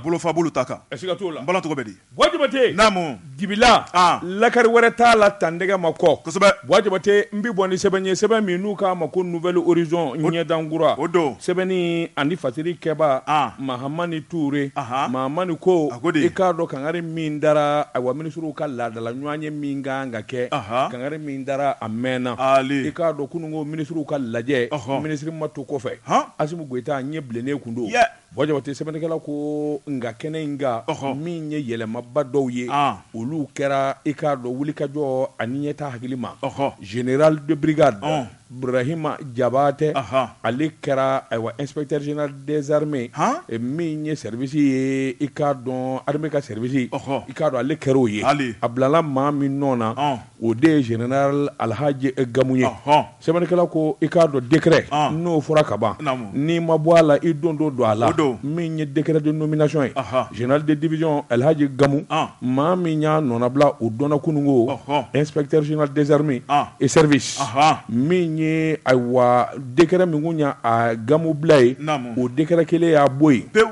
bolofa bolo ta kan bala tɔgɔ bɛ di Bua Jabate naamu dibi la lakari wɛrɛ t'a la tan dɛgɛ ma kɔ kosɛbɛ Bua Jabate n bɛ bɔ ni sɛbɛn ye sɛbɛn min n'u k'a ma ko Nouvel Horizon ɲɛdankura o don sɛbɛnni ani fasiri kɛba Mahamani Ture Mahamani ko i k'a dɔn kangari min dara ayiwa minisiriw ka laadala ɲɔgɔnye min kan ka kɛ kangari min dara a mɛnna i k'a dɔn kunun ko minisiriw ka lajɛ minisiri ma to kɔfɛ Asimi Goyita ɲɛ bilennen kun don Bua Jabate sɛbɛnnikɛla ko nka kɛnɛ in kan min ye yɛlɛmaba dɔw ye olu kɛra i k'a dɔn wulikajɔ ani ɲɛtaa hakili ma ɔɔ général de brigade Burahima Jabate ale kɛra ayiwa inspecteur général des armées min ye service ye i k'a dɔn armée ka service i k'a dɔn ale kɛra o ye a bilala maa min nɔ na o de ye général Alihaji Gamu ye Sɛbɛnnikɛla ko i k'a dɔn décret ɔn n'o fɔra kaban naamu n'i ma bɔ a la i don dɔ don a la o don min ye décret de nomination ye ɔhɔ général de division Alihaji Gamu ɔn maa min y'a nɔnabila o dɔnna kununko ɔhɔ inspecteur général des armées ɔn et services ɔnhɔn min ye ayiwa décret min kun y'a a Gamu bila ye naamu o décret kelen y'a bɔ ye pewu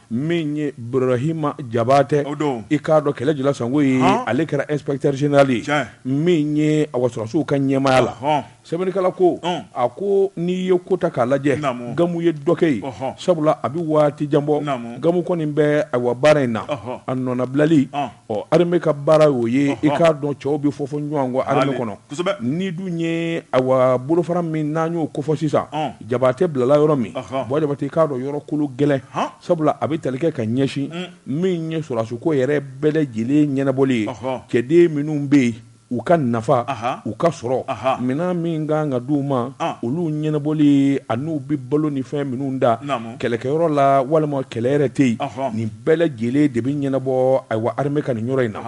min ye Burahima Jabate i k'a dɔn kɛlɛ jula sango ye ale kɛra inspecteur général ye min ye awa sɔrɔdasiw ka ɲɛmaya la sɛbɛnnikɛla ko a ko n'i ye ko ta k'a lajɛ Gamu ye dɔ kɛ ye sabula a bɛ waati jan bɔ Gamu kɔni bɛ ayiwa baara in na a nɔnabilali Ɔ armée ka baara y'o ye i k'a dɔn cɛw bɛ fɔfɔ ɲɔgɔn kɔ armée kɔnɔ nin dun ye awa bolofara min n'an y'o kofɔ sisan Jabate bilala yɔrɔ min Bua Jabate i k'a dɔn yɔrɔ kolo gɛlɛn sabula a bɛ tali kɛ ka ɲɛsin min ye sɔrɔsiko yɛrɛ bɛɛ lajɛlen ɲɛnabɔli ye cɛden minnu bɛ yen U ka nafa, u ka sɔrɔ, minɛn min ka kan ka di u ma, olu ɲɛnabɔli an'u bɛ balo ni fɛn minnu da kɛlɛkɛyɔrɔ la walima kɛlɛ yɛrɛ tɛ yen, nin bɛɛ lajɛlen de bɛ ɲɛnabɔ ayiwa armée ka nin yɔrɔ in na.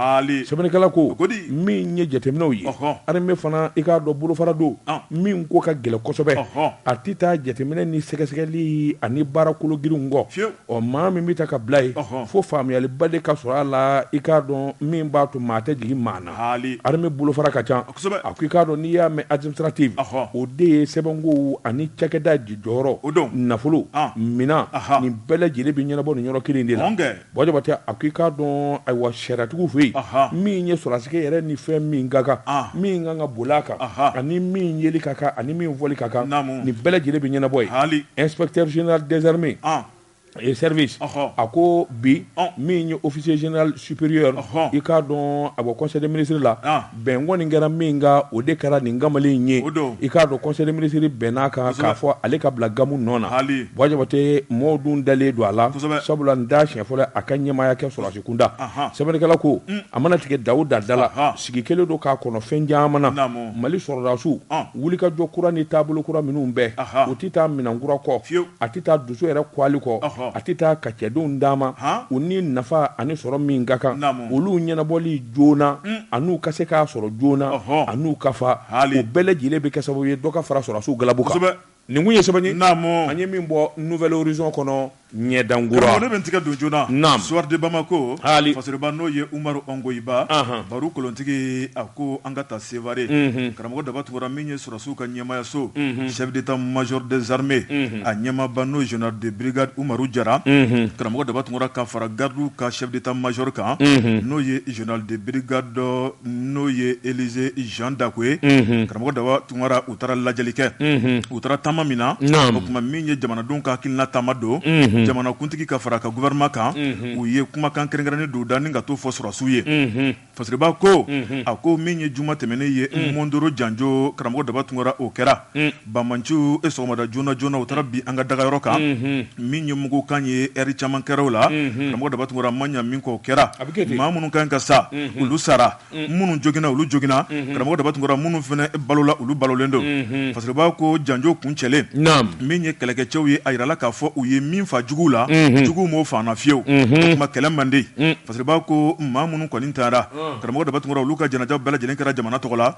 Sɛbɛnnikɛla ko, min ye jateminɛw ye, armée fana i k'a dɔn bolofara don min ko ka gɛlɛn kosɛbɛ, a tɛ taa jateminɛ ni sɛgɛsɛgɛli ani baara kolo girinw kɔ. Ɔ maa min bɛ ta ka bila ye fo faamuyaliba de ka sɔrɔ a la i k'a dɔn min b'a to maa tɛ jigin maa na armée bolofara ka ca a ko i k'a dɔn n'i y'a mɛn administrative o de ye sɛbɛnko ani cakɛda jɔyɔrɔ o don nafolo minɛn nin bɛɛ lajɛlen bɛ ɲɛnabɔ nin yɔrɔ kelen de la Bua Jabate a ko i k'a dɔn ayiwa sariyatigiw fɛ yen min ye sɔrɔsikɛ yɛrɛ ni fɛn min ka kan min kan ka boli a kan ani min yeli ka kan ani min fɔli ka kan nin bɛɛ lajɛlen bɛ ɲɛnabɔ yen inspecteur général des armées et service a ko bi min ye officier général supérieur i k'a dɔn a bɔ conseil des ministres la bɛn kɔni kɛra min kan o de kɛra nin kamalen ye i k'a dɔn conseil des ministres bɛnn'a kan k'a fɔ ale ka bila gamu nɔ na buwa jabatɛ maaw dun dalen don a la sabula n t'a siɲɛ fɔlɔ a ka ɲɛmaaya kɛ sɔrɔdasi kunda sɛbɛnnikɛla ko a mana tigɛ da o da da la sigi kɛlen don k'a kɔnɔ fɛn caman na Naamu. mali sɔrɔdasiw Ɔn. wulikajɔ kura ni taabolo kura minnu bɛɛ Aha. u tɛ taa minɛn kura kɔ Fiyewu. a tɛ taa dusu yɛrɛ kwali kɔ Ɔhɔ. a tɛ taa ka cɛdenw d'a ma Han. u ni nafa ani sɔrɔ min ka kan Naamu. olu ɲɛnabɔli joona an'u ka se k'a sɔrɔ joona Ɔhɔ. an'u ka fa Haali. o bɛɛ lajɛlen bɛ kɛ sababu ye dɔ ka fara sɔrɔdasiw galabu kan Kosɛbɛ. Nin kun ye sɛbɛn ye an ye min bɔ Nouvel Horizon kɔnɔ ɲɛdankura, karamɔgɔ ne bɛ n tigɛ don joona, naamu, soir de Bamako, haali, fasiriba n'o ye Umaru Ɔngoyiba, anhan, baro kolontigi a ko an ka taa Sevare, unhun, karamɔgɔ Daba Tunkara min ye sɔrɔdasiw ka ɲɛmaayaso, unhun, chef d'Etat major des armées, unhun, a ɲɛmaaba n'o ye général de brigade Umaru Jara, unhun, karamɔgɔ Daba Tunkara ka fara gardes ka chef d'Etat major kan, unhun, n'o ye général de brigade n'o ye Élisée Jean Dako ye, unhun, karamɔgɔ Daba Tunkara u taara lajɛli kɛ u taara taama min na o tuma min ye jamanadenw ka hakilina taama don jamanakuntigi ka fara ka gouvernement kan u ye kumakan kɛrɛnkɛrɛnnen dɔ da ni ka t'o fɔ sɔrɔdasiw ye fasiriba ko a ko min ye juma tɛmɛnen ye mondoro janjo karamɔgɔ daba tunkara o kɛra banmanciw ye sɔgɔmada joona joona u taara bin an ka dagayɔrɔ kan min ye mugu kan ye ɛri caman kɛra o la karamɔgɔ daba tunkara ma ɲa min k'o kɛra a bɛ kɛ maa minnu kan ka sa olu sara minnu joginna olu joginna karamɔgɔ daba tunkara minnu fana balola olu balolen don fasiriba ko janjo kun cɛlen min ye kɛlɛkɛcɛw ye a jirala k'a fɔ u ye min fa jugu la jugu m'o fa an na fiyewu o tuma kɛlɛ man di fasiriba ko maa minnu kɔni taara karamɔgɔ daba tunkara olu ka janaja bɛɛ lajɛlen kɛra jamana tɔgɔ la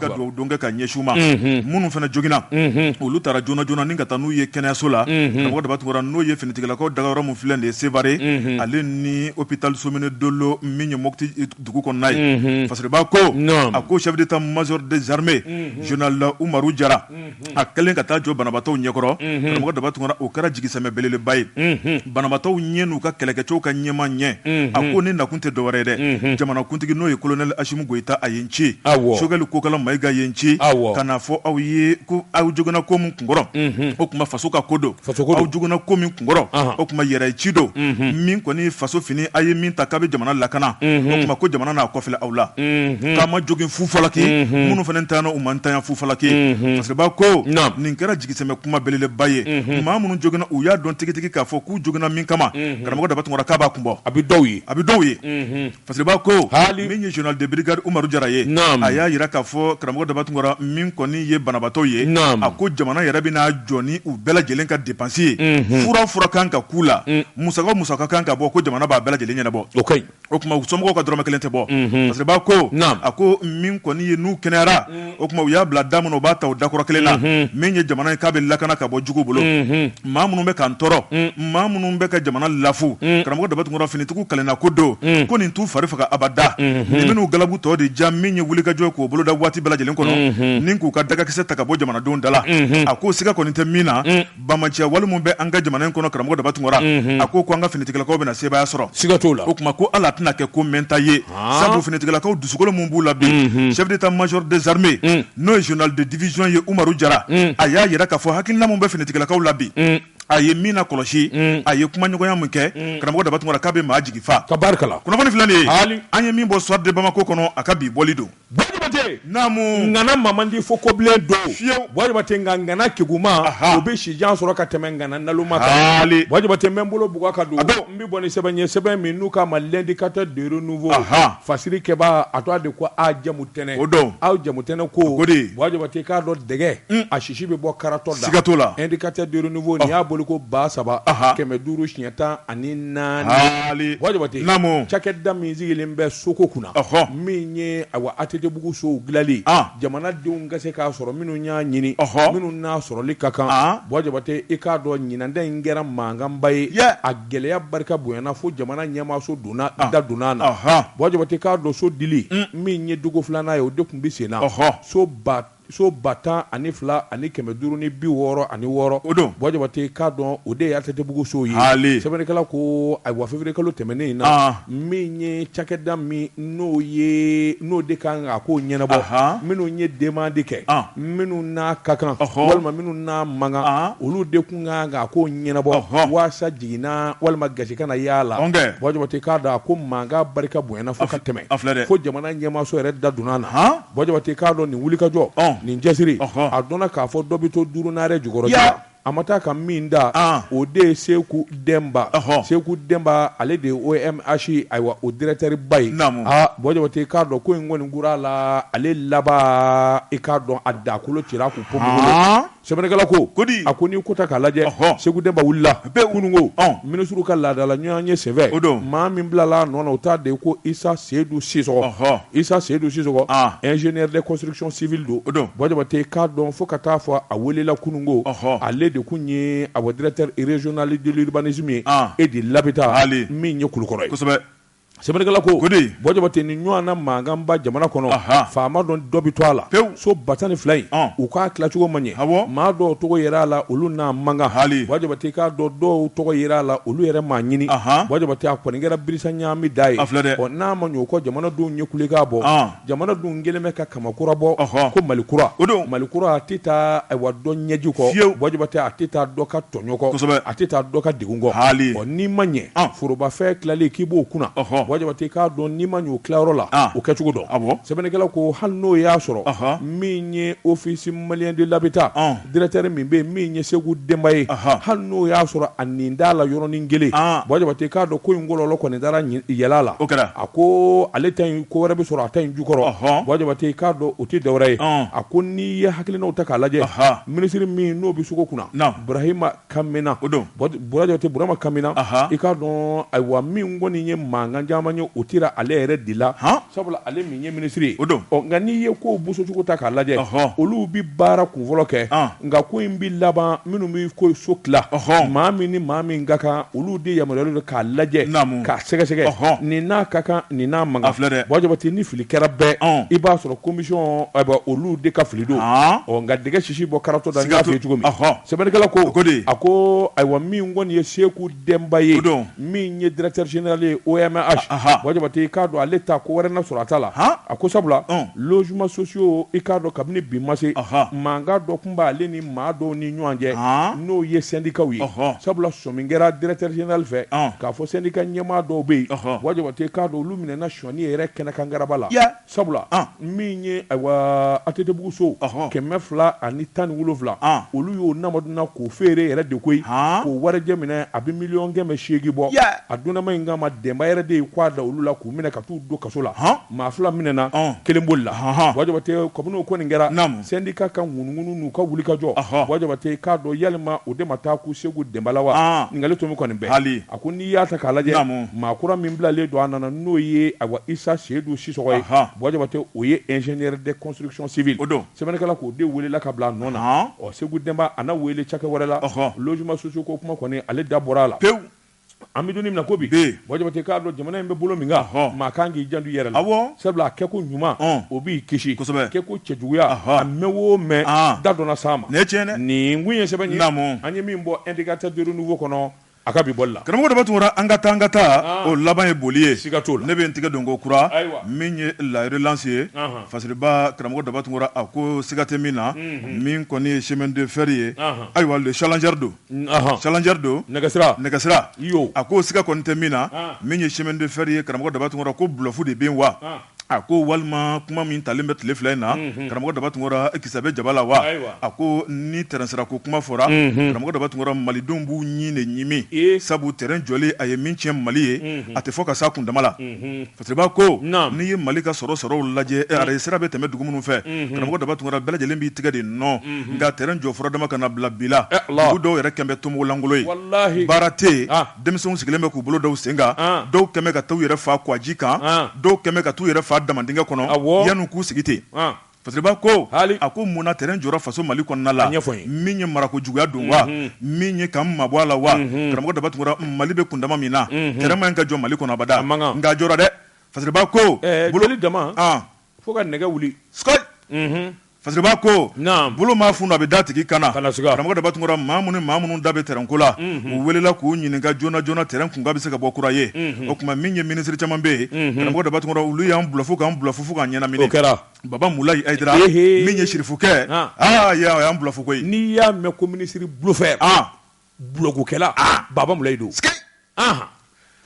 ka dugawudon kɛ ka ɲɛsin u ma minnu fana joginna olu taara joona joona ni ka taa n'u ye kɛnɛyaso la karamɔgɔ daba tunkara n'o ye finitigilakaw dagayɔrɔ min filɛ nin ye sevare ale ni hôpital somine dolo min ye mo dugu kɔnɔna ye fasiriba ko a ko chef d'état major des armées général umaru jara a kɛlen ka taa jɔ banabaatɔw ɲɛkɔrɔ karamɔgɔ daba tunkara o kɛra jigisɛmɛ belebeleba ye banabaatɔw ye n'u ka kɛlɛkɛcɛw ka ɲɛmaa ye a ko ne nakun tɛ dɔwɛrɛ ye dɛ jamanakuntigi n'o ye colonel asimi goyita a ye n ci sogɛli kokala mayiga ye n ci ka n'a fɔ aw ye ko aw joginna ko min kunkɔrɔ o tuma faso ka ko don Joginna ko min kunkɔrɔ o tuma yɛrɛ ci don min kɔni faso fini a ye min ta k'a bɛ jamana lakana o tuma ko jamana n'a kɔ filɛ aw la k'a ma jogin fufalaki minnu fana ntanyana u ma ntanya fufalaki fasiriba ko nin kɛra jigisɛmɛ kuma belebeleba ye maa minnu joginna u y'a dɔn tigitigi k'a fɔ k'u joginna min kama karamɔgɔ daba tunkara k'a b'a kun bɔ a bɛ dɔw ye a bɛ dɔw ye Fasiriba ko min ye général de brigade umaru jara ye a y'a jira k'a fɔ karamɔgɔ daba tunkara min kɔni ye banabaatɔ ye a ko jamana yɛrɛ bɛna a jɔ ni u bɛɛ lajɛlen ka dépense ye fura fura kan ka k'u la musaka musaka kan ka bɔ ko jamana b'a bɛɛ lajɛlen ɲɛnabɔ o tuma somɔgɔw ka dɔrɔmɛ kelen tɛ bɔ fasiriba ko a ko min kɔni ye n'u kɛnɛyara o tuma u y'a bila da min na u b'a ta o dakɔrɔ kelen na min ye jamana in k'a bɛ lakana ka bɔ jugu bolo maa minnu bɛ k'an tɔɔrɔ maa minnu bɛ ka jamana lafu karamɔgɔ daba tunkara finitigiw kalenna ko don ko nin t'u fari faga abada nin bɛn'u galabu tɔ de ja min ye wulikajɔ k'o boloda waati bɛɛ lajɛlen kɔnɔ ni k'u ka dagakisɛ ta ka bɔ jamanadenw da la a ko siga kɔni tɛ min na Banbaanciya wale minnu bɛ an ka jamana in kɔnɔ karamɔgɔ daba tunkara a ko ko an ka finitigilakaw bɛna na sebaaya sɔrɔ siga t'o la o tuma ko ala tɛna kɛ ko mɛnta ye sabu finitigilakaw dusukolo min b'u la bi chef d'état major des armées n'o ye général de division ye umaru jara a y'a jira k'a fɔ hakilina min bɛ finitigilakaw la bi a ye min na kɔlɔsi a ye kumaɲɔgɔnya min kɛ karamɔgɔ daba tunkara k'a bɛ maa jigi fa ka barika la kunnafoni filanan ye an ye min bɔ soir de bamako kɔnɔ a ka bi bɔli don ŋana man di fo kobilen don bwa jabate nka ŋana kegunma o bɛ si jan sɔrɔ ka tɛmɛ ŋana naloma kan bwa jabate n bolo buga ka don n bɛ bɔ ni sɛbɛn ye sɛbɛn min n'u k'a ma l'indicateur du renouveau fasirikɛba a to de ko a jamu tɛnɛn o dɔn aw jamu tɛnɛn ko bwa jabate k'a dɔn dɛgɛ a sisi bɛ bɔ karatɔ la indicateur du renouveau y'a boli ko ba saba kɛmɛ duuru siɲɛ tan ani naani bwa jabate cakɛda min sigilen bɛ soko kunna min ye ayiwa atetebugu so dilanli jamanadenw ka se k'a sɔrɔ minnu y'a ɲini minnu n'a sɔrɔli ka kan bwa jabate i k'a dɔn ɲinan ta in kɛra mankanba ye a gɛlɛya barika bonyana fo jamana ɲɛmaaso da donna na bwa jabate i k'a dɔn so dili min ye dugu filanan ye o de tun bɛ sen na so So ba tan ani fila ani kɛmɛ duuru ni bi wɔɔrɔ ani wɔɔrɔ o don bwa jabate k'a dɔn o de ye atetebugu so ye sɛbɛnnikɛla ko ayiwa février kalo tɛmɛnen in na min ye cakɛda min n'o de ka kan ka ko ɲɛnabɔ minnu ye demande kɛ minnu n'a ka kan walima minnu n'a man kan olu de tun ka kan ka ko ɲɛnabɔ walasa jiginna walima gasi kana y'a la bwa jabate k'a dɔn a ko mankan barika bonyana fo ka tɛmɛ fo jamana ɲɛmaaso yɛrɛ da donna na Bwa jabate k'a dɔn nin wulikajɔ nin cɛsiri a dɔnna k'a fɔ dɔ bɛ to duuru naare jukɔrɔ a ma taa ka min dan o de ye seku denba seku denba ale de ye omh ayiwa o directeur ba ye bwa jabate k'a dɔn ko in kɔni gora a la ale laban i k'a dɔn a dakolo cira k'u ko Sɛbɛkala ko ko a ko n'i ko ta k'a lajɛ segu denba wulila bɛɛ kununko minisiw ka laadadala ɲɔgɔn ye sɛbɛ o don maa min bilala nɔ o t' de ye ko isa seyidu sisɔɔn isa seyidu siso ez de kɔsirisɔn sibi don o don ba tɛ k'a dɔn fo ka taaa fɔ a welela kununko ale de tun ye a wadiratezjonali delibanisi min e de labɛnbita min ye kulukɔrɔ kosɛbɛ sɛbɛnnikɛla ko ko di bon jabate nin ɲɔgɔnna mankanba jamana kɔnɔ faama dɔn dɔ bɛ to a la so ba tan ni fila in u k'a tilacogo ma ɲɛ maa dɔw tɔgɔ yera a la olu n'a man kan bon jabate k'a dɔn dɔw tɔgɔ yera a la olu yɛrɛ m'a ɲini a kɔni kɛra birisa ɲamida ye n'a ma ɲɛ o kɔ jamanadenw ye kulekan bɔ Jamanadenw kɛlen bɛ ka kama kura bɔ ko mali kura o don mali kura a tɛ taa ayiwa dɔ ɲɛji kɔ fiye bon jabate a tɛ taa dɔ ka tɔɲɔ kɔ a tɛ taa dɔ ka dɛgun kɔ hali n'i ma ɲɛ forobafɛn tilali k'i b'o kunna bon jabate k'a dɔn n'i ma ɲ'o tilayɔrɔ la o kɛcogo dɔn a sɛbɛnnikɛla ko hali n'o y'a sɔrɔ min ye office malien de l'habitat directeur min bɛ min ye seku denba ye hali n'o y'a sɔrɔ a nin d'a la yɔrɔnin kelen bon jabate k'a dɔn ko in kɔlɔlɔ kɔni dara yɛlɛ la o kɛra a ko ale ta in ko wɛrɛ bɛ sɔrɔ a ta in jukɔrɔ k'a dɔn o tɛ dɔwɛrɛ ye a ko n'i ye hakilinaw ta k'a lajɛ minisiri min n'o bɛ soko kunna burahima kamina o don bon jabate burama kamina i k'a dɔn ayiwa min kɔni ye mankan caman ye o tira ale yɛrɛ de la sabula ale min ye minisiri ye o don nka n'i ye ko bosocogo ta k'a lajɛ olu bɛ baara kunfɔlɔ kɛ nka ko in bɛ laban minnu bɛ ko so tila maa min ni maa min ka kan olu de yamaruyalen don k'a lajɛ k'a sɛgɛsɛgɛ nin n'a ka kan nin n'a man kan filɛ dɛ bon jabate ni fili kɛra bɛɛ i b'a sɔrɔ komisɔn olu de ka fili don nka dɛgɛ kisi bɔ karatɔ da Siga t'o- n y'a f'i ye cogo min Ɔhɔ. sɛbɛnnikɛla ko ko di? a ko ayiwa min kɔni ye seku denba ye O don. min ye directeur général ye omh Aha. bon jabate i k'a dɔn ale ta ko wɛrɛ na sɔrɔ a ta la Han. a ko sabula Ɔn. logement sociaux i k'a dɔn kabini bi ma se Aha. mankan dɔ tun b'ale ni maa dɔw ni ɲɔgɔn cɛ Han. n'o ye syndicat ye Ɔhɔ. sabula sɔmi kɛra directeur général fɛ Ɔn. k'a fɔ syndicat ɲɛmaa dɔw bɛ yen Ɔhɔ. bon jabate i k'a dɔn olu minɛna sɔnni yɛrɛ kɛnɛ kan garaba la Ya. Sabula min ye atetebugu so kɛmɛ fila ani tan ni wolonwula olu y'o namaduna k'o feere yɛrɛ de koyi k'o warijɛ minɛ a bɛ miliyɔn kɛmɛ seegin bɔ a dunanma in kama denba yɛrɛ de ye k'a da olu la k'u minɛ ka taa u don kaso la maa fila minɛna kelen bolila jabate kabini ko nin kɛra syndicat ka ŋunuŋunu n'u ka wulikajɔ wa jabate k'a dɔn yalima o de ma taa kun seku denba la wa ɲininkali tɔ min kɔni bɛ hali A ko n'i y'a ta k'a lajɛ maa kura min bilalen don a nɔ na n'o ye a isa seyidu sisoko ye bon jabate o ye ingénieur de construction civile o don sɛbɛnnikɛla k'o de weelela ka bila a nɔ na ɔ seku denba a na weele cakɛ wɛrɛ la logement sociaux ko kuma kɔni ale da bɔra a la pewu an bɛ don min na ko bi bon jabate k'a dɔn jamana in bɛ bolo min kan maa kan k'i janto i yɛrɛ la sabula a kɛko ɲuman o b'i kisi kosɛbɛ kɛko cɛjuguya a mɛn o mɛn da don na s'a ma ne ti nin tun ye sɛbɛn ye an ye min bɔ indicateur du renouveau kɔnɔ A ka bi bɔli la karamɔgɔ daba tunkara an ka taa an ka taa o laban ye boli ye siga t'o la ne bɛ n tɛgɛ don ko kura min ye la relance ye fasiriba karamɔgɔ daba tunkara a ko siga tɛ min na min kɔni ye chemin de fer ye ayiwa le challenger don challenger don nɛgɛsira nɛgɛsira a ko siga kɔni tɛ min na min ye chemin de fer ye karamɔgɔ daba tunkara ko bluff de bɛ yen wa a ko walima kuma min talen bɛ tile fila in na karamɔgɔ daba tunkara kisɛ bɛ jaba la wa a ko ni tɛrɛnsira ko kuma fɔra karamɔgɔ daba tunkara malidenw b'u ɲin de ɲimi sabu tɛrɛn jɔli a ye min tiɲɛ mali ye a tɛ fɔ ka s'a kundama la fasiriba ko n'i ye mali ka sɔrɔ sɔrɔw lajɛ arayisira bɛ tɛmɛ dugu minnu fɛ karamɔgɔ daba tunkara bɛɛ lajɛlen b'i tigɛ de nɔn nka tɛrɛn jɔ fɔra dama ka na bila bi la dugu dɔw yɛrɛ kɛmɛ bɛ tomo lankolon ye baara tɛ denmisɛnw sigilen bɛ k'u bolo d'u sen kan dɔw kɛmɛ ka t'u yɛrɛ fa kwaji kan dɔw kɛmɛ ka t'u yɛrɛ fa damadingɛ kɔnɔ yanni k'u sigi ten fasiriba ko a ko mun na tɛrɛn jɔra faso mali kɔnɔna la ɲɛfɔ min ye marako juguya don wa min ye k'an mabɔ a la wa karamɔgɔ daba tunkara mali bɛ kundama min na tɛrɛn man ɲi ka jɔ mali kɔnɔ abada nka a jɔra dɛ fasiriba ko bolo dama fo ka nɛgɛ wuli Fasiriba ko bolo maa funu a bɛ d'a tigi kan na karamɔgɔ daba tunkara maa minnu maa minnu da bɛ tɛrɛnko la u welela k'u ɲininka joona joona tɛrɛn kunkan bɛ se ka bɔ kura ye o tuma min ye minisiri caman bɛ yen karamɔgɔ daba tunkara olu y'an bluff k'an bluff fo k'an ɲɛnamini kɛra baba mulayi ayidara min ye sirifukɛ a y'an bluff koyi n'i y'a mɛn ko minisiri bluffeur bluffkɛla Baba Mulayi don, sikei, anhan,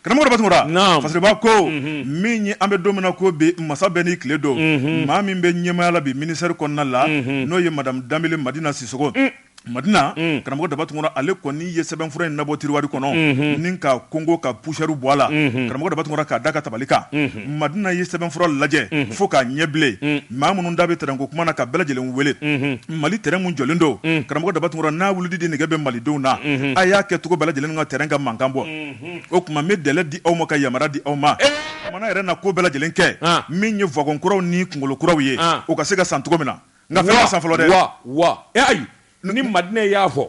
karamɔgɔ Daba Tunkara, naamu, Fasiriba ko, unhun, min ye an bɛ don min na ko bi masa bɛɛ n'i tile don, unhun, maa min bɛ ɲɛmaaya la bi ministère kɔnɔna la, unhun, n'o ye madame Danbele Madina Sisoko, un, Madina, un, karamɔgɔ Daba Tunkara ale kɔni ye sɛbɛnfura in labɔ tiroir kɔnɔ, unhun, ni k'a gongon ka poussière bɔ a la, unhun, karamɔgɔ Daba Tunkara k'a d'a ka tabali kan, unhun. madina ye sɛbɛnfura lajɛ fo k'a ɲɛ bilen maa minnu da bɛ tɛrɛn ko kuma na ka bɛɛ lajɛlen wele mali tɛrɛn min jɔlen don karamɔgɔ daba tunkara n'a wulili de nɛgɛ bɛ malidenw na a y'a kɛ cogo bɛɛ lajɛlen na tɛrɛn ka mankan bɔ o tuma n bɛ délai di aw ma ka yamaruya di aw ma mana yɛrɛ na ko bɛɛ lajɛlen kɛ min ye wagɔn kuraw ni kunkolo kuraw ye o ka se ka san cogo min na nka fɛn ma san fɔlɔ dɛ wa wa ayi ni madina y'a fɔ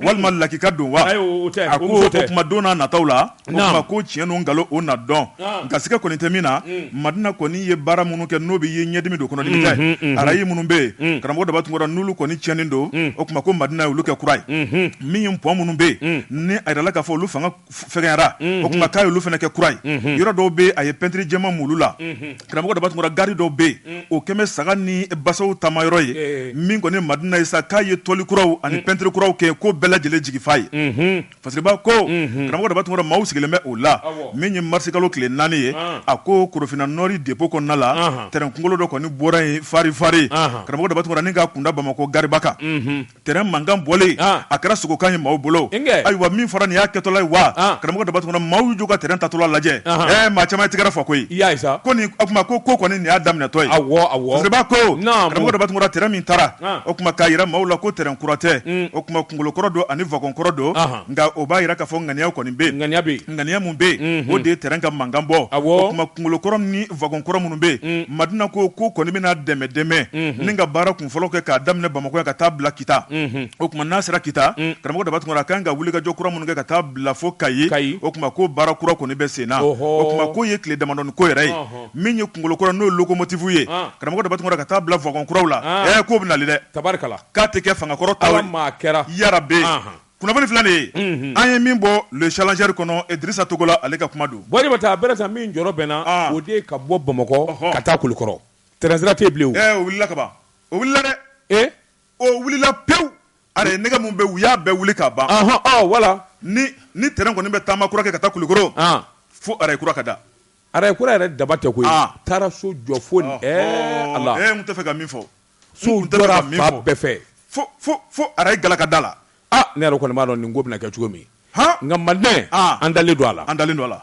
walima lakika don wa a ko o tuma don nataw la o kuma ko tiɲɛ ni nkalon o na dɔn nka siga kɔni tɛ min na madina kɔni ye baara minnu kɛ n'o bɛ ye ɲɛdimi don kɔnɔdimi tɛ arayi minnu bɛ yen karamɔgɔ daba tunkara n'olu kɔni tiɲɛnen don o tuma ko madina ye olu kɛ kura ye min ye pɔn minnu bɛ yen ni a yirala k'a fɔ olu fanga fɛgɛyara o tuma k'a ye olu fana kɛ kura ye yɔrɔ dɔw bɛ a ye pɛntiri jɛman mun u la karamɔgɔ daba tunkara gari dɔw bɛ yen o kɛmɛ bɛ saga ni basaw taama yɔrɔ ye min kɔni madina ye sa k'a ye tɔli kuraw ani pɛntiri kuraw kɛ ko bɛɛ lajɛlen jigi fa ye fasiriba ko karamɔgɔ daba tunkara maaw sigilen bɛ o la min ye marisikalo tile naani ye a ko korofinna nord dépôt kɔnɔna la tɛrɛn kunkolo dɔ kɔni bɔra yen farifari karamɔgɔ daba tunkara ni k'a kunda bamakɔ gariba kan Tɛrɛn mankan bɔlen a kɛra sogokan ye maaw bolo ayiwa min fɔra nin y'a kɛtɔla ye wa karamɔgɔ daba tunkara maaw y'u jɔ ka tɛrɛn taatɔla lajɛ ɛ maa caman ye tɛgɛrɛ fɔ koyi ko nin o tuma ko ko kɔni nin y'a daminɛtɔ ye koba ko karamɔgɔ daba tunkara tɛrɛn min taara o tuma k'a jira maaw la ko tɛrɛn kura tɛ o tuma kunkolo kɔrɔ don ani wagɔn kɔrɔ don nka o b'a jira k'a fɔ ŋaniya kɔni bɛ yen ŋaniya min bɛ yen o de ye tɛrɛn ka mankan bɔ a kunkolo kɔrɔ ni wagɔn kɔrɔ minnu bɛ yen madina ko ko kɔni bɛna dɛmɛ dɛmɛ ni ka baara fɔlɔ kɛ k'a daminɛ bamakɔ ka taa bila kita o tuma n'a sera kita karamɔgɔ daba tunkara a kan ka wulikajɔ kura minnu kɛ ka taa bila fo kayi o tuma ko baara kura kɔni bɛ senna o tuma k'o ye tile damadɔ ko yɛrɛ ye min ye kunkolo kura n'o ye lokomotifu ye karamɔgɔ daba tunkara ka taa bila wagɔn kuraw la ɛ k'o bɛ nali dɛ tari k'a tɛ kɛ fangakɔrɔ ta maa kɛra yarabe kunnafoni fila de ye an ye min bɔ le challenger kɔnɔ idirisa togola ale ka kuma don bɔ jabate a min jɔ bɛnna o de ka bɔ bamakɔ ka taa kulukɔrɔ Tɛrɛnsira tɛ yen bilen o. Ɛɛ o wulila ka ban, o wulila dɛ. Ee! O wulila pewu. Araye nɛgɛ min bɛ yen, u y'a bɛɛ wuli ka ban. Ɔnhɔn! Ɔ wala! Ni ni tɛrɛn kɔni bɛ taama kura kɛ ka taa Kulikoro. An! Fo araye kura ka da. Araye kura yɛrɛ daba tɛ koyi. An! Taara so jɔ fo nin. Ɛɛ Ala! Ɔhɔɔ! Ee n tun tɛ fɛ ka min fɔ. Sow jɔra fan bɛɛ fɛ. Fo fo fo araye gala ka da la. Aa! Ne yɛrɛ kɔni b'a dɔn nin ko bɛna kɛ cogo min. Han! Nka Maliden. An! An dalen don a la. An dalen don a la.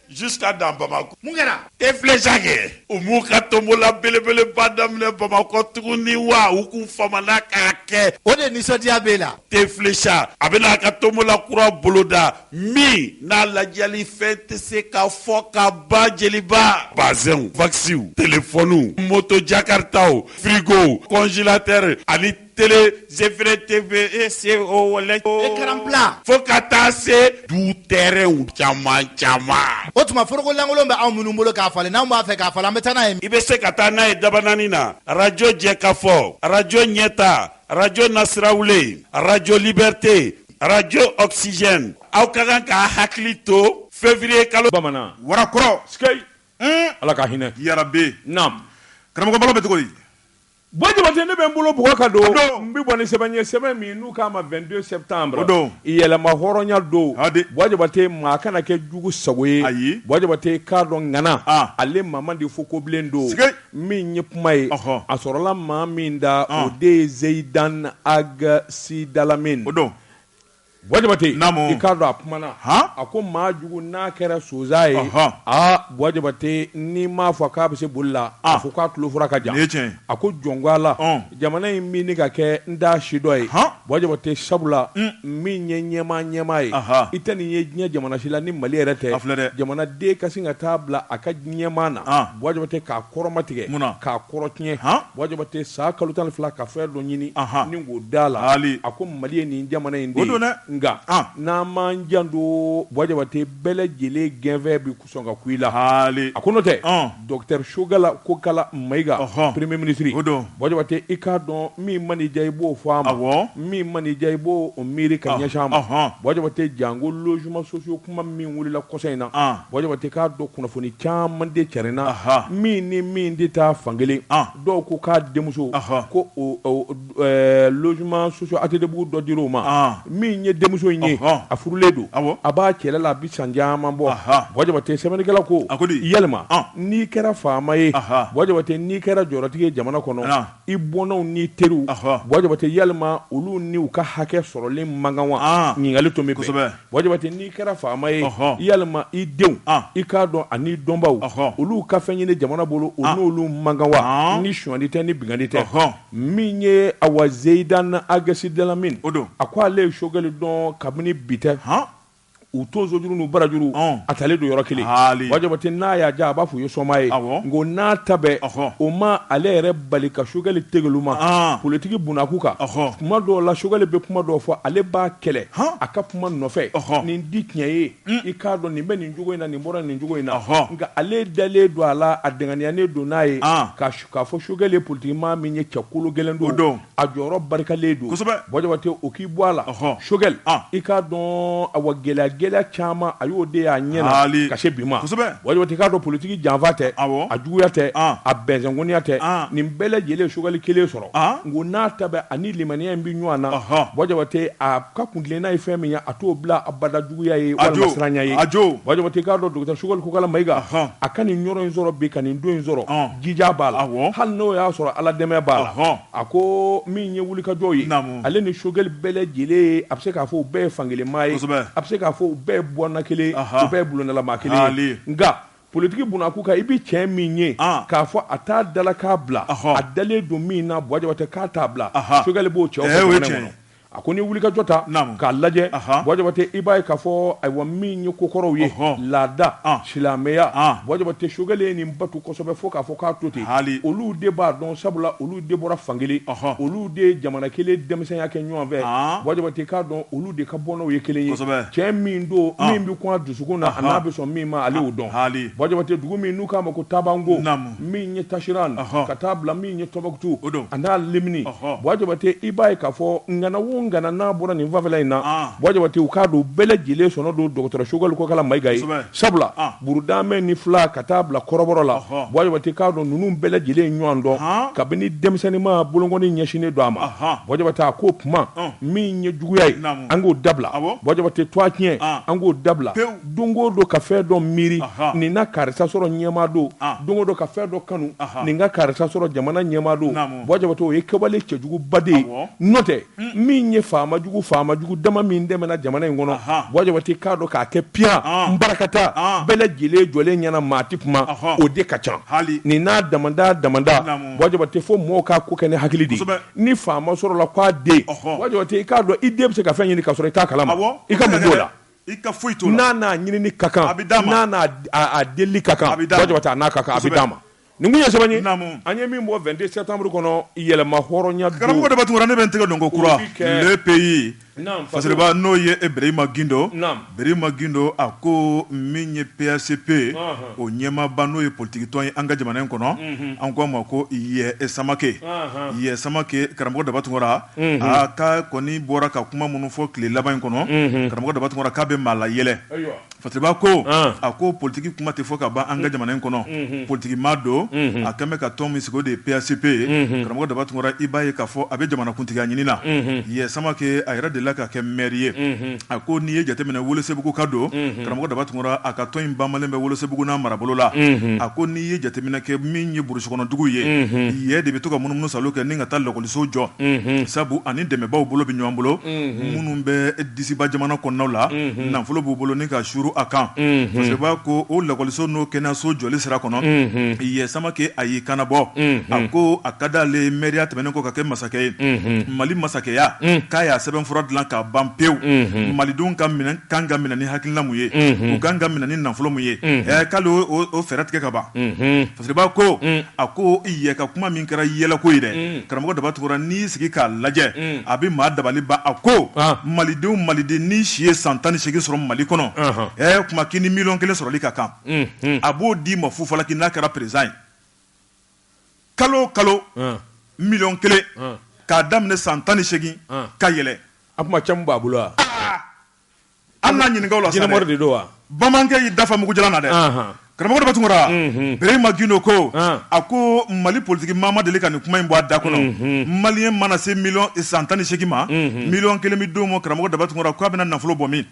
Jusqu'à dans bamakɔ mun kɛra te filɛsa kɛ u b'u ka tonbola belebeleba daminɛ bamakɔ tuguni wa u k'u famana k'a kɛ o de nisɔndiya bɛ la te filɛsa a bɛna a ka tonbola kura boloda min n'a ladiyali fɛn tɛ se ka fɔ ka ban jeliba bazɛnw waksiw telefɔniw moto jakaritaw firigo kɔnzelatɛri ani tele zefere teve e se o wala ekaran pla fo ka taa se du tɛrɛnw caman caman o tuma foroko lankolon bɛ anw minnu bolo k'a falen n'anw b'a fɛ k'a falen an bɛ taa n'a ye i bɛ se ka taa n'a ye dabanani na arajo jɛkafɔ arajo ɲɛta arajo nasirawulen arajo libɛrite arajo ɔkisizɛn aw ka kan k'a hakili to fevriye kalo bamanan warakɔrɔ sikeyi ala ka hinɛ yarabe naamu karamɔgɔ balo bɛ cogo di Bɔ jabate ne bɛ n bolo bugɔ ka don n bɛ bɔ ni sɛbɛn ye sɛbɛn min n'u k'a ma vingt-deux septembre yɛrɛmahɔrɔnya don bɔ jabate maa kana kɛ jugu sago ye bɔ jabate k'a dɔn ŋana ale maa man di fo kobilen don min ye kuma ye a sɔrɔla maa min da o de ye zeyidan ag sidalamin o don Bɔ jabate i k'a dɔn a kumana a ko maa jugu n'a kɛra sonsan ye aa bɔ jabate n'i m'a fɔ k'a bɛ se boli la a fɔ k'a tulofura ka jan a ko jɔn ko ala jamana in min ka kɛ n da sidɔn ye bɔ jabate sabula min ye ɲɛmaa ɲɛmaa ye i tɛ nin ye diɲɛ jamana si la ni mali yɛrɛ tɛ filɛ dɛ jamanaden ka sin ka taa bila a ka ɲɛmaa na bɔ jabate k'a kɔrɔmatigɛ k'a kɔrɔ tiɲɛ Buwa Jabate san kalo tan fila ka fɛn dɔ ɲini ni k'o d'a la hali a ko mali ye nin jamana in don dɛ nka n'an m'an janto Buwa Jabate bɛɛ lajɛlen gɛnfɛ bɛ sɔn ka ku i la hali a ko n'o tɛ docteur Sogɛli Kokala Mayiga hɔn premier ministre o don Buwa Jabate i k'a dɔn min man'i diya i b'o fɔ a ma min man'i diya i b'o miiri ka ɲɛsin a ma hɔn Buwa Jabate janko logement sociaux Kuma min wulila kɔsa in na Buwa Jabate k'a dɔn kunnafoni caman de carinna min ni min tɛ taa fan kelen dɔw ko k'a denmuso ko logement sociaux ATTbugu dɔ di o ma min ye denmuso in ye a furulen don a b'a cɛla la a bɛ san caman bɔ Buwa Jabate sɛbɛnnikɛla ko yalima n'i kɛra faama ye Buwa Jabate n'i kɛra jɔyɔrɔtigi ye jamana kɔnɔ i bɔnnaw n'i teriw, ɔhɔ, Buwa Jabate yalima olu ni u ka hakɛ sɔrɔlen man kan wa? An, ɲininkali tomi bɛ, kosɛbɛ, Buwa Jabate n'i kɛra faama ye, ɔhɔ, yalima i denw, an, i k'a dɔn an'i dɔnbaaw, ɔhɔ, olu ka fɛn ɲini jamana bolo o n'olu man kan wa? An, ni sonyali tɛ ni binkanni tɛ, ɔhɔ, min ye awa Zeyidan Ag Sidalamin, o don, a ko ale ye Sogɛli dɔn kabini bi tɛ, han. U tonsojuru n'u barajuru a talen don yɔrɔ kelen Buwa Jabate n'a y'a diya a b'a fɔ u ye soma ye nka o n'a ta bɛɛ o ma ale yɛrɛ bali ka Sogɛli tlu ma politigi bunakun kan kuma dɔw la Sogɛli bɛ kuma dɔw fɔ ale b'a kɛlɛ a ka kuma nɔfɛ nin tɛ tiɲɛ ye i k'a dɔn nin bɛ nin cogo in na nin bɔra nin cogo in na nka ale dalen don a la a dɛnkɛnɛyalen don n'a ye k'a fɔ Sogɛli ye politigi maa min ye cɛ kologɛlɛn don a jɔyɔrɔ barikalen don Buwa Jabate o k'i bɔ a la Sogɛli i k'a dɔn awa gɛlɛya gɛlɛya caman a y'o de y'a ɲɛ na ka se bi ma Buwa Jabate k'a dɔn politigi janfa tɛ a juguya tɛ a bɛnsɛnkoniya tɛ nin bɛɛ lajɛlen Sogɛli kelen sɔrɔ nka o n'a ta bɛɛ ani limaniya in bɛ ɲɔgɔn na Buwa Jabate a ka kuntilenna ye fɛn min ye a t'o bila abada juguya ye walima siranya ye Buwa Jabate i k'a dɔn docteur Sogɛli Kokala Mayiga a ka nin yɔrɔ in sɔrɔ bi ka nin don in sɔrɔ jija b'a la Awɔ. hali n'o y'a sɔrɔ Ala dɛmɛ b'a la Ɔhɔn. a ko min ye wulikajɔ ye Naamu. ale ni Sogɛli bɛɛ lajɛlen ye a bɛ se k'a fɔ u bɛɛ ye fankelenmaa ye Kosɛbɛ. a bɛ se k'a fɔ u bɛɛ ye bɔnna kelen ye Ahan. u bɛɛ ye bulondalamaa kelen Haali. ye nka politiki bunakun kan i bɛ cɛ min ye An. k'a fɔ a t'a dalakan bila Ɔhɔn. a dalen don min na Buwa Jabate k'a t'a bila Ahan. Sogɛli b'o cɛw fɔ Ɛɛ, o ye jamana in tiɲɛ ye. kɔnɔ A ko ni wulikajɔ ta k'a lajɛ Buwa Jabate i b'a ye k'a fɔ ayiwa min ye kokɔrɔw ye laada silamɛya Buwa Jabate Sogɛli ye nin batu kosɛbɛ fo k'a fɔ k'a to ten hali olu de b'a dɔn sabula olu de bɔra fankelen olu de ye jamana kelen denmisɛnya kɛ ɲɔgɔn fɛ Buwa Jabate k'a dɔn olu de ka bɔnnaw ye kelen ye cɛ min don min bɛ kun a dusukun na an'a bɛ sɔn min ma ale y'o dɔn Buwa Jabate dugu min n'u k'a ma ko Tabango min ye tasiran ka taa bila min ye tɔnbukutu a n'a lamini bua jabate i b'a ye k'a fɔ ŋana o ŋana n'a bɔra nin fanfɛla in na bua jabate u k'a dɔn bɛɛ lajɛlen sɔnna don dɔgɔtɔrɔ sogɛli kokala mayiga ye sabula burudamɛ ni fila ka taa bila kɔrɔbɔrɔ la bua jabate k'a dɔn ninnu bɛɛ lajɛlen ɲɔgɔn dɔn kabini denmisɛnnin ma bolokɔni ɲɛsinnen don a ma bua jabate k'o kuma min ye juguya ye an k'o dabila bua jabate tu tiɲɛ an k'o dabila don o don ka fɛn dɔ miiri nin na karisa sɔrɔ ɲɛmaa don don o don ka fɛn dɔ kanu nin ka karisa sɔrɔ jamana ɲɛmaa don bua jabate o ye kɛwale cɛjuguba de ye n'o tɛ min ye faama jugu faama jugu dama min tɛmɛna jamana in kɔnɔ bua jabate k'a dɔn k'a kɛ p barikakata bɛɛ lajɛlen jɔlen ɲɛna maa tɛ kuma o de ka ca hali ni n'a da damada bua jabate fo mɔgɔw ka ko kɛ ni hakili ye ni faama sɔrɔla k'a den bua jabate i k'a dɔn i den bɛ se ka fɛn ɲini k'a sɔrɔ i t'a kalama i ka la I ka foyi t'o la n'a ɲini ka kan a bɛ d'a ma n'a deli ka kan bua jabate n'a ka kan a bɛ d'a ma nin ye sɛbɛn ye an ye min bɔ vingt-deux septembre kɔnɔ yɛlɛma hɔrɔnya karamɔgɔ daba tunkara ne bɛ n tɛgɛ don ko kura le pays fasiriba n'o ye birahima gindo birahima gindo a ko min ye PACP o ɲɛmaaba n'o ye politigitɔn ye an ka jamana in kɔnɔ an k'a ma ko yɛ samakɛ yɛ samakɛ karamɔgɔ daba tun aa k'a kɔni bɔra ka kuma minnu fɔ tile laban in kɔnɔ karamɔgɔ daba tunkara k'a bɛ maa layɛlɛ fasiriba ko a ko politigi kuma tɛ fɔ ka ban an ka jamana in kɔnɔ politigimaa don a kɛlen bɛ ka tɔn min sigi o de ye PACP ye karamɔgɔ daba tunkara i b'a ye k'a fɔ a bɛ jamanakuntigiya ɲini na yɛ samakɛ a yɛrɛ delila ka kɛ mɛri ye a ko n'i ye jateminɛ welesebuguka don karamɔgɔ daba tunkara a ka tɔn in banbalen bɛ welesebugu n'a marabolo la a ko n'i ye jateminɛ kɛ min ye burusikɔnɔdugu ye yɛ de bɛ to ka munumunu sa kɛ ka taa lakɔ so jɔ sabu a ni dɛmɛbaaw bolo bɛ ɲɔgɔn bolo minnu bɛ disiba jamana kɔnɔnaw la nafolo b'u bolo ni k'a suuru a kan parce b'a ko o lakɔliso n'o kɛnɛyaso jɔli sira kɔnɔ yɛ samakɛ a y'i kanbɔ a ko a ka di ale mɛriya tɛmɛnen kɔ ka kɛ masakɛ ye mali masakɛya k'a y'a sɛbɛnfura dilan ka ban pewu malidenw ka kan ka minɛ ni hakilina mun ye u ka kan ka minɛ ni nafolo mun ye k'ale o fɛɛrɛ tigɛ ka ban Parce b'a ko a ko yɛ ka kuma min kɛra yɛlɛko ye dɛ karamɔgɔ daba tunkara n'i sigi k'a lajɛ a bɛ maa dabali ban a ko malidenw maliden n'i si ye san tan ni segin sɔrɔ mali kɔnɔ ɛ kuma k'i ni miliyɔn kelen sɔrɔli ka kan a b'o d'i ma fu falaki n'a kɛra peresidan ye kalo o kalo miliyɔn kelen k'a daminɛ san tan ni segin ka yɛlɛn a kuma caman b'a bolo An na ɲininkaw la de don wa bamanan y'i dafa mugu jala na dɛ karamɔgɔ daba tunkara berema gindo ko a ko mali politigi maa ma deli ka nin kuma in bɔ a da kɔnɔ maliyɛn mana se mi san tan ni segin ma miliyɔn kelen bɛ d'o ma karamɔgɔ daba tunkara k' a bɛna nafolo bɔ min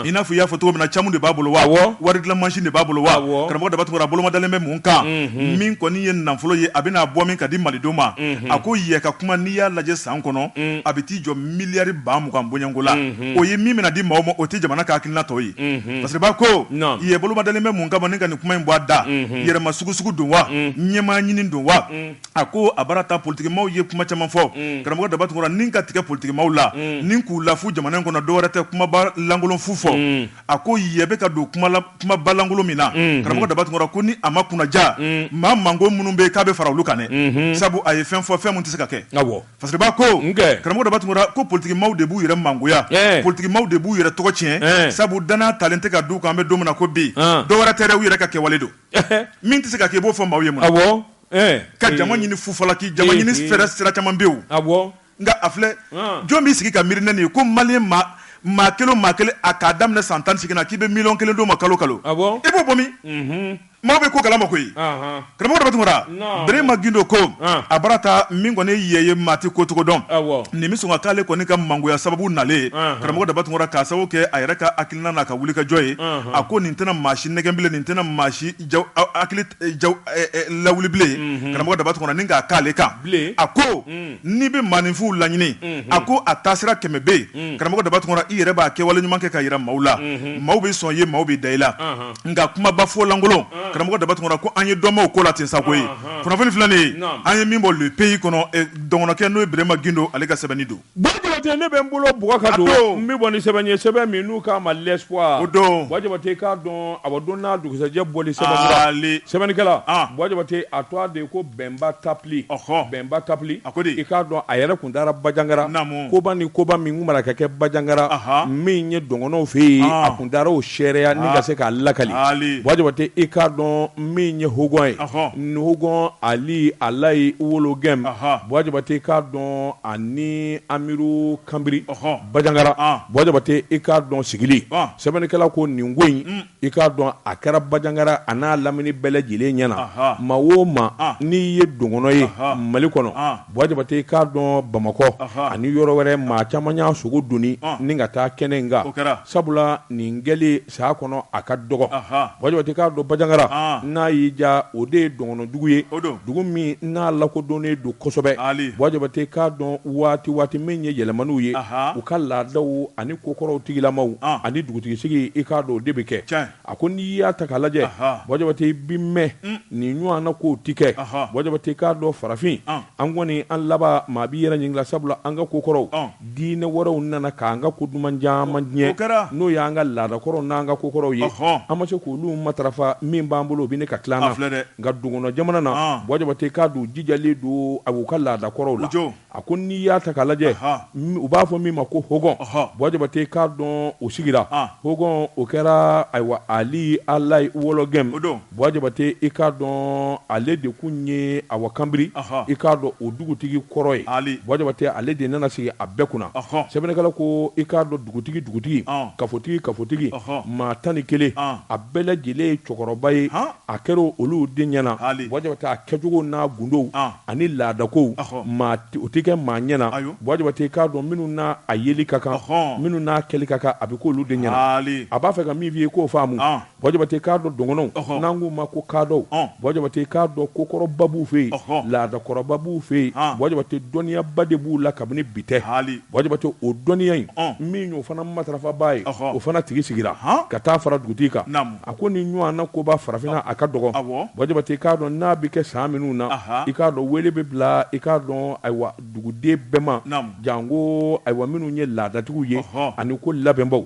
i n'a fɔ i y'a fɔ cogo min na camu de b'a bolo wa wari dilan masin de b'a bolo wa karamɔgɔ daba tunkara bolo ma dalen bɛ mun kan min kɔni ye nafolo ye a bɛn'a bɔ min ka di malidenw ma a ko yɛ ka kuma n'i y'a lajɛ san kɔnɔ a bɛ t'i jɔ miliyari ba mugan bɔɲɔgɔnko la o ye min bɛna di maaw ma o tɛ jamana ka hakilina tɔ ye paba ko yɛ bolo ma dalen bɛ mun kan ban ni ka nin kuma in bɔ a da yɛrɛma sugu sugu don wa ɲɛmaa ɲini don wa a ko a baara ta politiki maaw ye kuma caman fɔ karamɔgɔ daba tunkara ni ka tigɛ politiki maaw la ni k'u lafu jamana in kɔnɔ dɔ wɛrɛ tɛ kumaba lankolon fu fɔ a ko yɛ bɛ ka don kumaba lankolon min na karamɔgɔ daba tunkara ko ni a ma kunnaja maa mango minnu bɛ k'a bɛ fara olu kan sabu a ye fɛn fɔ fɛn tɛ se ka kɛ Paba ko karamɔgɔ daba tunkara ko politiki maaw de b'u yɛrɛ mangoya politiki maaw de b'u yɛrɛ tɔgɔ tiɲɛ sabu danaya talen tɛ ka d'u kan an bɛ don min na ko bi dɔ wɛrɛ tɛ dɛ u yɛrɛ ka kɛwale don min tɛ se ka kɛ i b'o fɔ maaw ye ma ka jama ɲini fufala k'i jama ɲini fɛɛrɛ sira caman bɛ yen nka a filɛ jɔn b'i sigi ka miiri n nin ye ko maliyɛn maa kelen maa kelen a k'a daminɛ san tan ni segin na k'i bɛ miliyɔn kelen d'o ma kalo kalo i b'o bɔ min Maaw bɛ ko kalama koyi karamɔgɔ daba tunkara berema gindo ko a bara taa min kɔni yɛ ye maa tɛ ko cogo dɔn nin bɛ sɔn ka k'ale kɔni ka mangoya sababu nalen karamɔgɔ daba tunkara k'a sababu kɛ a yɛrɛ ka hakilina n'a ka wulikajɔ ye a ko nin tɛna maa si nɛgɛn bilen nin tɛna maa si lawuli bilen karamɔgɔ daba tunkara ni k'a k'ale kan a ko n'i bɛ maaninfin laɲini a ko a taasira kɛmɛ bɛ yen karamɔgɔ daba tunkara i yɛrɛ b'a kɛwale ɲuman kɛ k'a yira maaw la maaw bɛ sɔn i ye maaw bɛ da i la nka kumaba fɔ lankolon karamɔgɔ daba tunkara ko an ye dɔnbaw ko la ten sa koyi kunnafoni filɛ nin ye an ye min bɔ le pays kɔnɔ dɔgɔnɔkɛ n'o ye berema gindo ale ka sɛbɛnni don bɔ jabate ne bɛ n bolo bɔ o kɔ ka don n bɛ bɔ ni sɛbɛn ye sɛbɛn min n'u k'a ma l'espoir o don bɔ jabate k'a dɔn a bɛ don n'a dugusɛjɛ bɔli sɛbɛnnikɛla bɔ jabate a tɔgɔ de ye ko bɛnba tapili bɛnba tapili a ko i k'a dɔn a yɛrɛ kun taara bajangara koba ni koba min mara ka kɛ bajangara min ye dɔgɔnɔw fɛ yen a kun taara o seereya ni ka se k'a lakali bɔ jabate i k'a dɔn min ye hɔgɔn ye hɔgɔn ali alayi wologɛm bɔ jabate i k'a dɔn ani amiru kanbiri bajangara bɔ jabate i k'a dɔn sigili sɛbɛnnikɛla ko nin ko in i k'a dɔn a kɛra bajangara a n'a lamini bɛɛ lajɛlen ɲɛna maa o maa n'i ye dɔgɔnɔ ye mali kɔnɔ bɔ jabate i k'a dɔn bamakɔ ani yɔrɔ wɛrɛ maa caman y'a sogo donni ni ka taa kɛnɛ in kan sabula nin kɛli saya kɔnɔ a ka dɔgɔ bɔ jabate k'a dɔn bajangara n'a y'i ja o de ye dɔgɔnɔdugu ye dugu min n'a lakodɔnnen don kosɛbɛ bɔ jabate k'a dɔn waati waati min ye yɛlɛmaniw ye u ka laadaw ani ko kɔrɔw tigilamaw ani dugutigisigi i k'a dɔn o de bɛ kɛ a ko n'i y'a ta k'a lajɛ bɔ jabate i bi mɛn mm. nin ɲɔgɔn na ko ti kɛ bɔ jabate k'a dɔn farafin an kɔni an laban maa b'i yɛrɛ ɲininka sabula an ka ko kɔrɔw diinɛ wɛrɛw nana k'an ka ko duman caman tiɲɛ n'o y'an ka laadakɔrɔw n'an ka ko kɔrɔw ye an ma se k'olu matarafa min b'an bolo o bɛ ɲini ka tila an na nka dɔgɔnɔ jamana na bɔ jabate k'a dɔn jijalen don a b'u ka laadakɔrɔw la A ko n'i y'a ta k'a lajɛ u b'a fɔ min ma ko hɔgɔn bɔ jabate k'a dɔn o sigira hɔgɔn o kɛra ayiwa ali alayi wologɛm bɔ jabate i k'a dɔn ale de tun ye awa kanbiri i k'a dɔn o dugutigi kɔrɔ ye bɔ jabate ale de nana sigi a bɛɛ kunna sɛbɛnnikɛla ko i k'a dɔn dugutigi dugutigi kafotigi kafotigi maa tan ni kelen a bɛɛ lajɛlen ye cɛkɔrɔba ye a kɛra olu de ɲɛna bɔ jabate a kɛcogo n'a gundow ani laadakow o tɛ kɛ maa ɲɛna bɔ jabate k'a dɔn minnu n'a yeli ka kan minnu n'a kɛli ka kan a bɛ k'olu de ɲɛna a b'a fɛ ka min f'i ye k'o faamu bɔ jabate k'a dɔn dɔgɔnɔw n'an k'u ma ko kaadɔw bɔ jabate k'a dɔn kokɔrɔba b'u fɛ yen laadakɔrɔba b'u fɛ yen bɔ jabate dɔnniyaba de b'u la kabini bi tɛ bɔ jabate o dɔnniya in min y'o fana matarafabaa ye o fana tigi sigira ka taa fara dugutigi kan A ko nin ɲɔgɔn na koba farafinna a ka dɔgɔ bɔ jabate i k'a dɔn n'a bɛ kɛ san minnu na i k'a dɔn wele bɛ bila i k'a dɔn ayiwa duguden bɛɛ ma janko ayiwa minnu ye laadatigiw ye ani ko labɛnbaw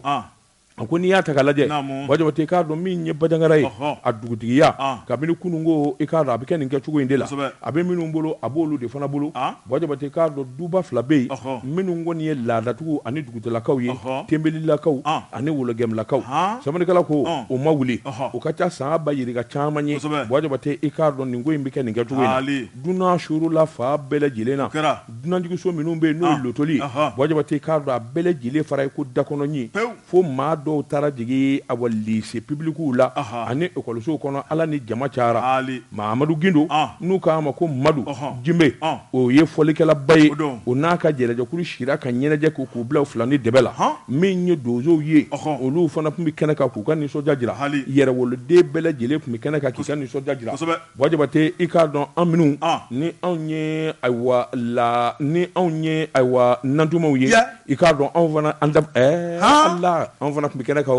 a ko n'i y'a ta k'a lajɛ bɔ jabate i k'a dɔn min ye bajangara ye a dugutigiya kabini kununko i k'a dɔn a bɛ kɛ nin kɛcogo in de la a bɛ minnu bolo a b'olu de fana bolo Bɔ jabate k'a dɔn duba fila bɛ yen minnu kɔni ye laadatigiw ani dugutigilakaw ye tenbelilakaw ani wologɛmlakaw sɛbɛnnikɛla ko u ma wuli u ka ca san ba yirika caman ye bɔ jabate i k'a dɔn nin ko in bɛ kɛ nin kɛcogo in na dunan suurula fan bɛɛ lajɛlen na dunanjiginso minnu bɛ yen n'o ye lotoli bɔ jabate k'a dɔn a bɛɛ lajɛlen fara i ko dakɔnɔɲin fo maa dɔw taara jigin awa lise pibilikiw la ani ekɔlisow kɔnɔ ala ni jama cayara mahamadu gindo n'u k'a ma ko madu jenbe o ye fɔlikɛlaba ye o n'a ka ɲɛnajɛkulu sira ka ɲɛnajɛ kɛ k'u bila filani dɛbɛ la min ye donsow ye olu fana tun bɛ kɛnɛ kan k'u ka nisɔndiya jira yɛrɛwoloden bɛɛ lajɛlen tun bɛ kɛnɛ kan k'u ka nisɔndiya jira Bɔ jabate i k'a dɔn an minnu ni anw ye ayiwa la ni anw ye ayiwa nantumaw ye i k'a dɔn anw fana ala anw fana tun bɛ kɛnɛ kan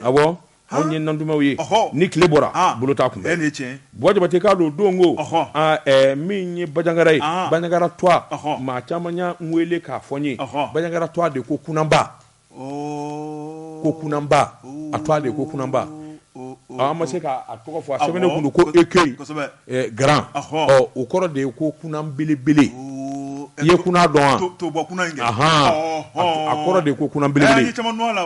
a anw ye nantumaw ye ni tile bɔra bolo t'a kunbɛn bɔ jabate k'a dɔn don ko min ye bajangara ye bajangara twa maa caman y'an wele k'a fɔ n ye bajangara twa in de ko kunba ko kunanba a twa de ko kunanba an ma se k'a tɔgɔ fɔ a sɛbɛnnen kun don ko écueil grand o kɔrɔ de ye ko kunan belebele i ye kunan dɔn wa a kɔrɔ de ko kunan belebele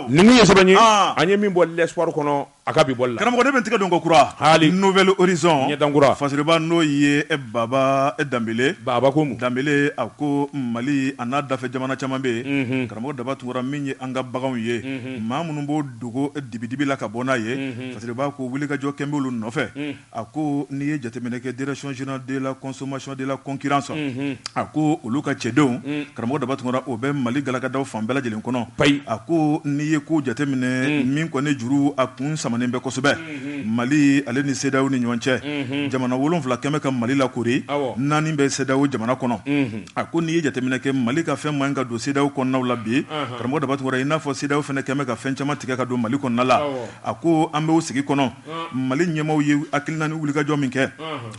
nin kun ye sɛbɛn ye an ye min bɔ l'espoir kɔnɔ A ka bi bɔli la karamɔgɔ ne bɛ n tigɛ don ko kura hali nouvel horizon dankura fasiriba n'o ye baba danbele baba ko mun danbele a ko mali a n'a dafɛ jamana caman bɛ yen karamɔgɔ daba tunkara min ye an ka baganw ye maa minnu b'o dogo dibidibi la ka bɔ n'a ye fasiriba ko wulikajɔ kɛn b'olu nɔfɛ A ko n'i ye jateminɛ kɛ Direction générale de la consommation et de la concurrence unhun, a ko olu ka cɛdenw, unhun, karamɔgɔ Daba Tunkara o bɛ Mali galakadaw fan bɛɛ lajɛlen kɔnɔ, payi, a ko n'i ye ko jateminɛ, unhun, min kɔni juru a kun samanen bɛ kosɛbɛ, unhun, Mali ale ni CEDEAO ni ɲɔgɔn cɛ, unhun, jamana wolonwula kɛnbɛ ka Mali lakori, awɔ, naani bɛ CEDEAO jamana kɔnɔ, unhun, a ko n'i ye jateminɛ kɛ Mali ka fɛn man ɲi ka don CEDEAO kɔnɔna la bi, anhan, karamɔgɔ Daba Tunkara i n'a fɔ CEDEAO fana kɛnbɛ ka fɛn caman tigɛ ka don Mali kɔnɔna la, awɔ, a ko an bɛ o sigi kɔnɔ. mali ɲɛmaaw ye hakilina ni wulikajɔ min kɛ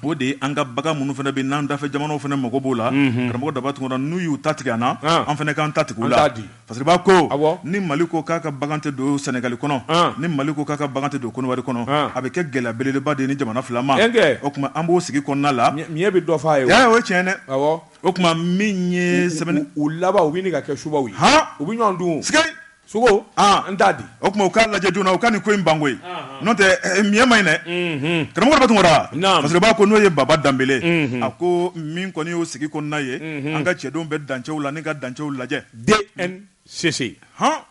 o de ye an ka bagan minnu fana bɛ n'an dafɛ jamanaw fana mako b'o la karamɔgɔ daba tunkara n'u y'u ta tigɛ an na an fana k'an ta tigɛ u la fasiriba ko ni mali ko k'a ka bagan tɛ don sɛnɛgali kɔnɔ ni mali ko k'a ka bagan tɛ don kɔdiwari kɔnɔ a bɛ kɛ gɛlɛya belebeleba de nin jamana fila ma o tuma an b'o sigi kɔnɔna la bɛ dɔ fɔ ye o ye tiɲɛ dɛ o tuma min ye sɛbɛn u laban u bɛ ɲini ka kɛ subaaw ye u bɛ ɲɔgɔn dun Sogo n t'a di o tuma u k'a lajɛ joona u ka nin ko in ban koyi n'o tɛ ɲɛ man ɲi dɛ karamɔgɔ daba tunkara fasiriba ko n'o ye baba danbele a ko min kɔni y'o sigi kɔnɔna ye an ka cɛdenw bɛ dancɛw la n ka dancɛw lajɛ DNCC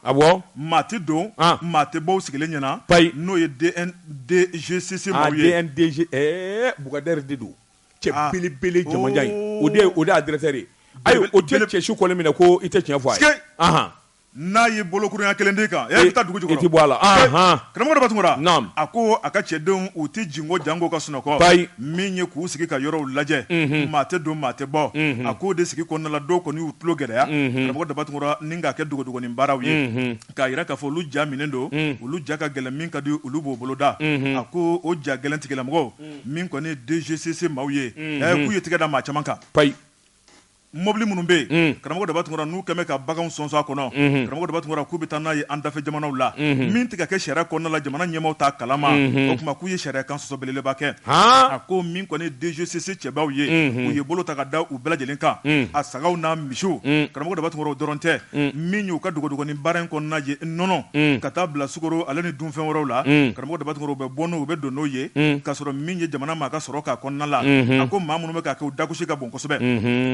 awɔ maa tɛ don maa tɛ bɔ sigilen ɲɛna ba n'o ye DGCC bugadari de don cɛ belebele jamajan o de ye a directeur ye ayi o cɛsu kɔn minɛ ko i tɛ tiɲɛ fɔ a N'a ye bolokurunɲɛ kelen d'i kan e bɛ taa dugu jukɔrɔ i tɛ bɔ a la karamɔgɔ daba tunkara a ko a ka cɛdenw u tɛ jingɔ janko ka sunɔgɔ min ye k'u sigi ka yɔrɔw lajɛ maa tɛ don maa tɛ bɔ a k'o de sigi kɔnɔna la dɔw kɔni y'u tulo gɛlɛya karamɔgɔ daba tunkara ni k'a kɛ dogodogonin baaraw ye k'a jira k'a fɔ olu ja minɛn don olu ja ka gɛlɛn min ka di olu b'o boloda a ko o ja gɛlɛntigilamɔgɔw min kɔni ye DGCC maaw ye k'u ye tɛgɛ da maa caman kan Mɔbili minnu bɛ yen karamɔgɔ daba tunkara n'u kɛnbɛ ka baganw sɔnsɔn a kɔnɔ karamɔgɔ daba tunkara k'u bɛ taa n'a ye an dafɛ jamanaw la min tɛ ka kɛ sariya kɔnɔna la jamana ɲɛmaaw t'a kalama o tuma k'u ye sariya kan sɔsɔ belebeleba kɛ a ko min kɔni DGCC cɛbaw ye u ye bolo ta ka da u bɛɛ lajɛlen kan a sagaw n'a misiw karamɔgɔ daba tunkara o dɔrɔn tɛ min y'u ka dogodogonin baara in kɔnɔna ye nɔnɔ ka taa bila sukaro ale ni dunfɛn wɛrɛw la karamɔgɔ daba u bɛ bɔ n'o u bɛ don n'o ye k'a sɔrɔ min ye jamana maa ka sɔrɔ k'a kɔnɔna la a ko maa minnu bɛ k'o kɛ u dagosi ka bon kosɛbɛ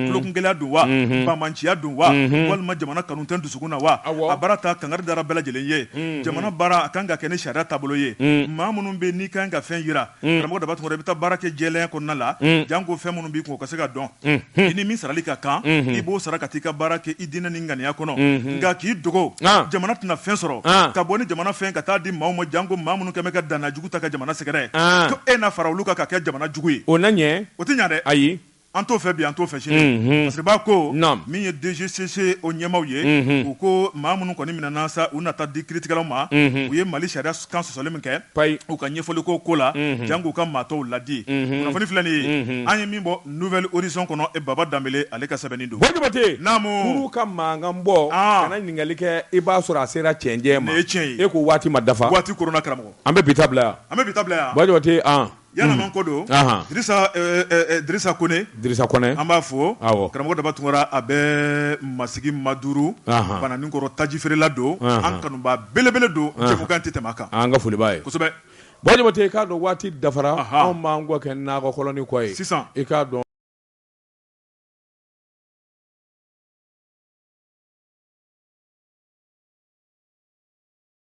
tulokungɛlɛya don wa banbanciya don wa walima jamana kanu tɛ dusu na wa a baara ta kangari dara bɛɛ lajɛlen ye jamana baara a kan ka kɛ ni sariya taabolo ye maa minnu bɛ n'i kan ka fɛn jira karamɔgɔ Daba Tunkara i bɛ taa baara kɛ jɛlenya kɔnɔna la janko fɛn minnu b'i kun ka se ka dɔn i ni min sarali ka kan i b'o sara ka taa i ka baara kɛ i diinɛ ni ŋaniya kɔnɔ nka k'i dogo jamana tɛna fɛn sɔrɔ ka bɔ ni jamana fɛn ka taa di maaw ma janko maa minnu kɛlen bɛ ka dangajugu ta ka jamana sɛgɛrɛ An. ko e na fara olu kan ka kɛ jamana jugu ye o na ɲɛ o tɛ ɲa dɛ ayi an t'o fɛ bi an t'o fɛ sini Mhm. parce que b'a ko Naam. min ye DGCC o ɲɛmaaw ye Mhm. u ko maa minnu kɔni minɛna sa u na taa di kiiritigɛlaw ma Mhm. u ye Mali sariya kan sɔsɔli min kɛ payi u ka ɲɛfɔli ko ko la Mhm. jank'u ka maa tɔw ladi Mhm. kunnafoni filɛ nin ye Mhm. an ye min bɔ nouvelle horizon kɔnɔ e Baba Danbele ale ka sɛbɛnni don Bwa Jabate Naamu. kurun ka mankan bɔ An. kana ɲininkali kɛ i b'a sɔrɔ a sera cɛncɛn ma Nin ye tiɲɛ ye. e ko waati ma dafa waati koronna karamɔgɔ An bɛ bi ta bila yan, an bɛ bi ta bila yan, Bwa Jabate an, ɲanama ko don, anhan, Dirisa ɛɛ Dirisa Kɔnɛ, Dirisa Kɔnɛ, an b'a fɔ, awɔ, karamɔgɔ Daba Tunkara a bɛ Masigi Maduru, anhan, Bananikɔrɔ taji feerela don, anhan, an kanubaa belebele don, anhan, jɛmukan tɛ tɛmɛ a kan, an ka foli b'a ye, kosɛbɛ, Bwa Jabate i k'a dɔn waati dafara, anhan, anw b'an kɔ kɛ nakɔ kɔlɔnnin kɔ ye, sisan, i k'a dɔn